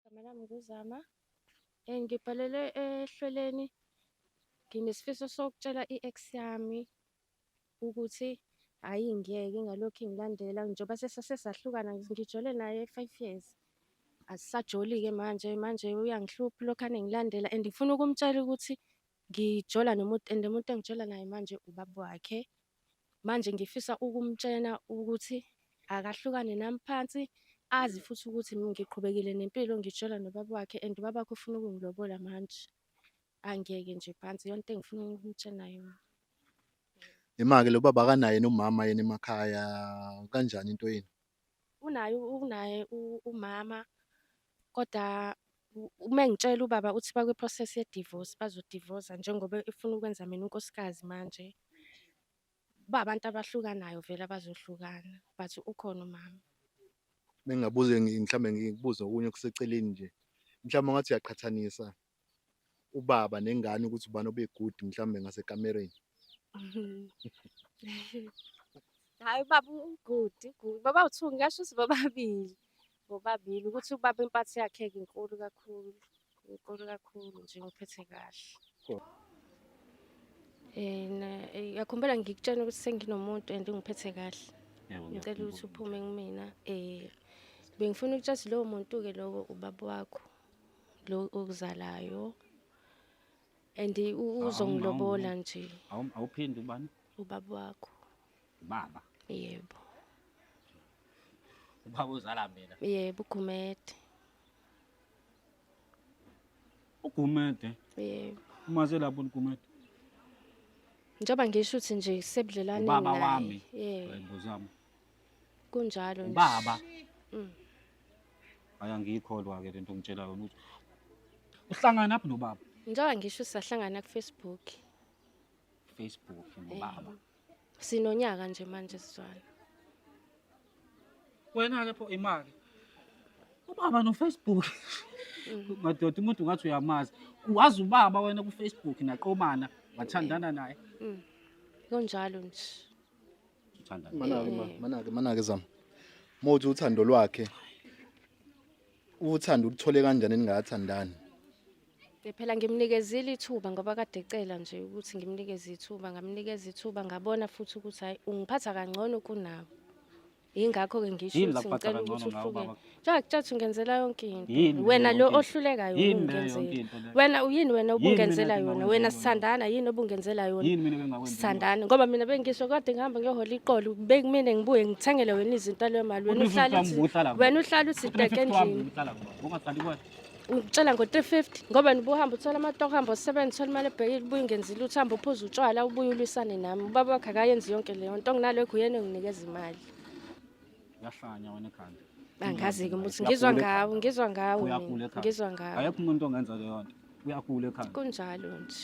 Igama lami nguZama. Eh, ngibhalele ehlelweni nginesifiso sokutshela i-ex yami ukuthi hhayi ngiyeke ngalokhu ingilandela njengoba sesase sahlukana ngijole naye five years. Asisajoli-ke manje, manje uyangihlupha ulokhu anengilandela and ngifuna ukumtshela ukuthi ngijola nomuntu and umuntu engijola naye manje ubaba wakhe. manje ngifisa ukumtshena ukuthi akahlukane nami phansi azi futhi ukuthi ngiqhubekile nempilo ngitshela nobaba wakhe and ubaba wakhe ufuna ukungilobola manje angeke nje phansi yonke into engifuna ukumtshena yona Imake lo baba akanaye nomama yena emakhaya kanjani into yenu? unaye unaye umama kodwa uma engitshela ubaba uthi bakwi-process ye-divorce bazodivosa njengoba efuna ukwenza mina unkosikazi manje ba abantu abahlukanayo vele abazohlukana but ukhona umama bengabuze mhlawumbe ngibuze okunye okuseceleni nje mhlawumbe ngathi uyaqhathanisa ubaba nengane ukuthi ubani obe good mhlawumbe ngasekamereni hayi ubaba ugood good baba uthu ngasho ukuthi bobabili bobabili ukuthi ubaba impatho yakhe ke inkulu kakhulu inkulu kakhulu nje ngiphethe kahle and eh, yakhumbula ngikutshena ukuthi senginomuntu and ngiphethe kahle ngicela ukuthi uphume kumina um bengifuna ukutshela ukuthi lowo muntu-ke lowo ubaba wakho lo okuzalayo and uzongilobola nje awuphindi ubani ubaba wakho baba yebo ubaba uzala mina yebo ugumede ugumede yebo umaze lapho ugumede njengoba ngisho ukuthi nje sebudlelane naye ubaba wami yebo ngibuzama kunjalo nje. Ubaba. Mm. Aya ngiyikholwa ke lento ngitshela yona ukuthi uhlangana phi nobaba? Njengoba ngisho sahlangana ku Facebook. Facebook nobaba. Eh, sinonyaka nje manje sizwana. Wena ke pho imali. Ubaba no Facebook. Mm. Madoda umuntu ngathi uyamazi. Wazi ubaba wena ku Facebook naqomana wathandana naye. Mm. Kunjalo nje. Ngithanda. Manake ma, manake manake zama. Mothi uthando lwakhe. Uthando uthole kanjani ningathandani? Eh, phela ngimnikezile ithuba ngoba kade ecela nje ukuthi ngimnikeze ithuba ngamnikeza ithuba ngabona futhi ukuthi hayi ungiphatha kangcono kunawo yingakho-ke ngisho ukuthi ngicela ukuthi uhluke Jack jack ungenzela yonke into. Yini Wena leyo lo yonke into? ohlulekayo Yini leyo yonke ungenzela. into leyo? Wena uyini wena Yini mina obungenzela yona? engingakwenza Wena yona? sithandana yini obungenzela yona? Yini mina bengakwenza? Sithandana ngoba mina bengisho kade ngihamba ngiyohola iqolo bekumina ngibuye ngithengele wena izinto leyo mali wena uhlala uthi wena uhlala uthi deke endlini ungitshela ngo-350 ngoba nibuhamba uthola amatoho hamba usebenza uthola imali ebhekile ubuye ungenzi lutho uhamba uphuza utshwala ubuye ulwisane nami ubaba wakhe akayenzi yonke leyo nto nginalo eguyena enginikeza imali yahlanya wena ekhanda angazi-ke ukuthi ngizwa ngawo ngizwa ngawo ngizwa ngawo ayekho umuntu ongenza leyo nto uyagula ekhanda kunjalo nje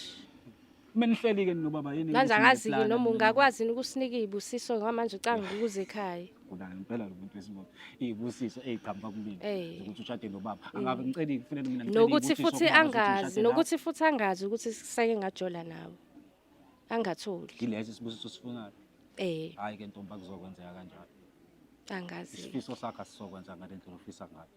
kumele nihleli-ke ninobaba yini manje angazi-ke noma ungakwazi yini ukusinika iy'busiso ngoba manje ucanga ukuze ekhaya ngigula ngempela lo muntu wesibona iy'busiso ey'qhamuka kumina ukuthi ushade nobaba mm. angabe ngiceli kufanele mina nokuthi futhi angazi nokuthi futhi angazi ukuthi sisake ngajola nawe angatholi Yileso isibusiso osifunayo. eh Hayi ke ntombi akuzokwenzeka kanjalo. angazi Isifiso sakho asizokwenza ngale ndlela ofisa ngayo.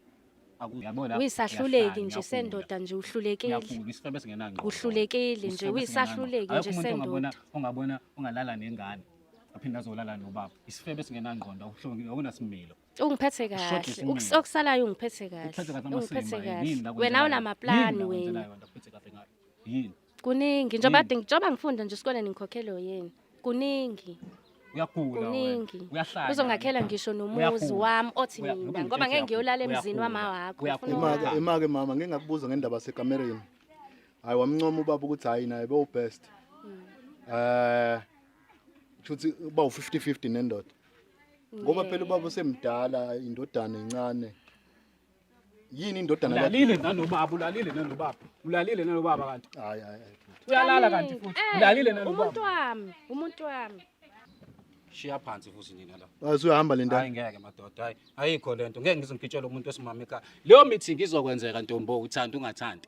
Aku- Uyabona lapho? uyisahluleki Uyahlanya, nje uyagula. sendoda nje uhlulekile Uyagula, isifebe singenangqondo. uhlulekile nje Isifebe uyisahluleki singenangqondo. nje Akekho umuntu ongabona sendoda ongabona ongalala nengane aphinde azolala nobaba. Isifebe singenangqondo awuhlongi awunasimilo. ungiphethe Ushode kahle isimilo. Ukus- okusalayo ungiphethe Uphethe kahle kahle ungiphethe amasimba. Yini kahle la wena kwenzekayo? unamaplani Yini la wena kwenzelayo, wena uphethe kahle ngayo. Yini? kuningi njengoba Yini? njengoba ngifunda nje esikoleni ngikhokhelo yini kuningi uyagula kuningi wena uyahlanya uzongakhela ngisho nomuzi Uyagula. wami othi Uya- mina ngoba ngoba ngeke ngitshela ngiyolala yakho, emzini uyagula. wama wakho Uyagula. ufuna Imake uwakhe. imake mama ngingakubuza ngendaba yasekamereni. Hayi wamncoma ubaba ukuthi hayi naye bewu best. Eh futhi uba u50 50 nendoda. Ngoba phela ubaba usemdala indodana encane. yini indodana yakhe ulalile nanobaba ulalile nanobaba ulalile nanobaba kanti hayi hayi uyalala kanti futhi eh, ulalile nanobaba umuntu wami umuntu wami shiya phansi futhi nina la wazi uyahamba le ndawo hayi ngeke madoda hayi ayikho lento ngeke ngizongitshela umuntu wesimama ekhaya leyo meeting izokwenzeka ntombo uthanda ungathandi